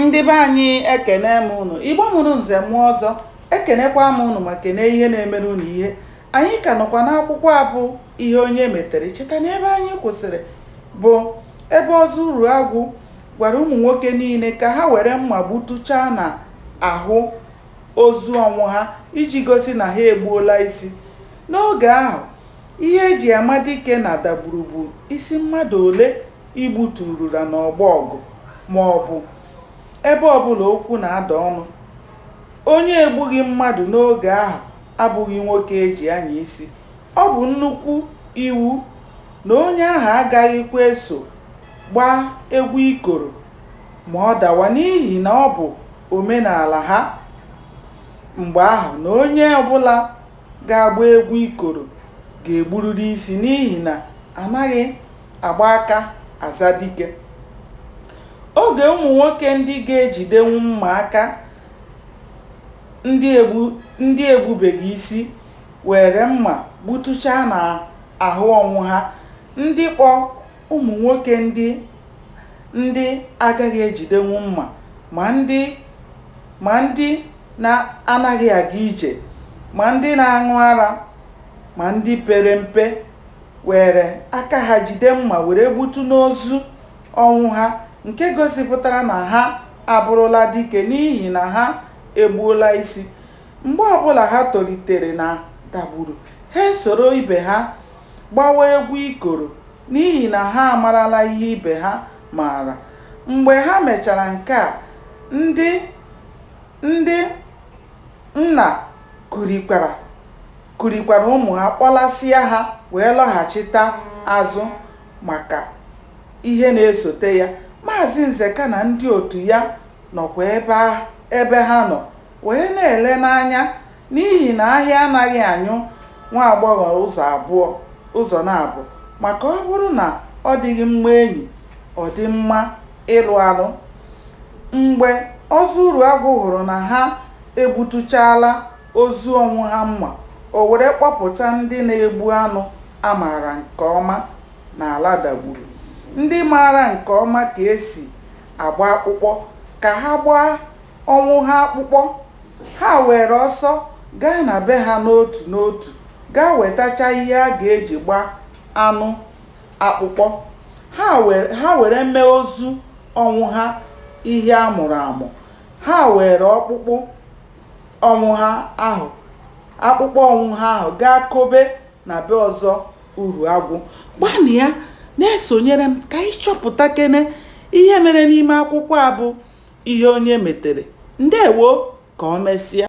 ndị be anyị ekene m ụnụ igbo mụrụ nze mụọ ọzọ ekenekwa m ụnụ ma kene ihe na-emere ụnụ ihe anyị ka nọkwa n'akwụkwọ a bụ ihe onye metere cheta na ebe anyị kwụsịrị bụ ebe ọzọ uruagwụ gwara ụmụ nwoke niile ka ha were mma gbutuchaa na ahụ ozu ọnwụha iji gosi na ha egbuola isi n'oge ahụ ihe eji ama dike na dagburu bụ isi mmadụ ole i gbuturula n'ọgbọ ọgụ ma ọ bụ ebe ọ bụla okwu na-ada ọnụ. Onye egbughị mmadụ n'oge ahụ abụghị nwoke e ji anya isi. Ọ bụ nnukwu iwu na onye ahụ agaghịkwa eso gbaa egwu ikoro ma ọ dawa n'ihi na ọ bụ omenaala ha mgbe ahụ na onye ọ bụla ga-agba egwu ikoro ga-egburịrị isi n'ihi na anaghị agba aka aza dike. Oge ụmụ nwoke ndị ga-ejidenwu mma aka ndị egbubeghị isi weere mma gbutuchaa n'ahụ Ọnwụha, ndị kpọ ụmụ nwoke ndị ndị agaghị ejidenwu mma ma ndị ma ndị na-anaghị aga ije ma ndị na-aṅụ ara ma ndị pere mpe were aka ha jide mma were gbutu n'ozu ọnwụha nke gosipụtara na ha abụrụla dike n'ihi na ha egbuola isi mgbe ọbụla ha tolitere na dagburu ha esoro ibe ha gbawa egwu ikoro n'ihi na ha amarala ihe ibe ha maara. Mgbe ha mechara nke a, ndị ndị nna kurikwara kurikwara ụmụ ha kpọlasịa ha wee lọghachita azụ maka ihe na-esote ya. Maazị Nzeka na ndị otu ya nọkwa ebe ebe ha nọ were na-ele n'anya N'ihi na ahịa anaghị anyụ nwa agbọghọ ụzọ abụọ, ụzọ naabọ, maka ọ bụrụ na ọ dịghị mma enyi, ọ dị mma ịlụ alụ. Mgbe Ọzọ Uruagwụ hụrụ na ha egbutuchaala ozu Ọnwụha mma, o were kpọpụta ndị na-egbu anụ a maara nke ọma n'ala Dagburu, ndị maara nke ọma ka e si agba akpụkpọ, ka ha gbaa. Ọnwụha akpụkpọ, ha weere ọsọ gaa na be ha n'otu n'otu gaa wetacha ihe a ga-eji gbaa anụ akpụkpọ. Ha were ha were mee ozu Ọnwụha ihe a mụrụ amụ. Ha weere ọkpụkpụ Ọnwụha ahụ akpụkpọ Ọnwụha ahụ gaa kobe. na be ọzọ uruagwụ gbanụ ya na-esonyere m ka anyị chọpụtakene ihe mere n'ime akwụkwọ a bụ ihe onye metere ndewo ka o mesịa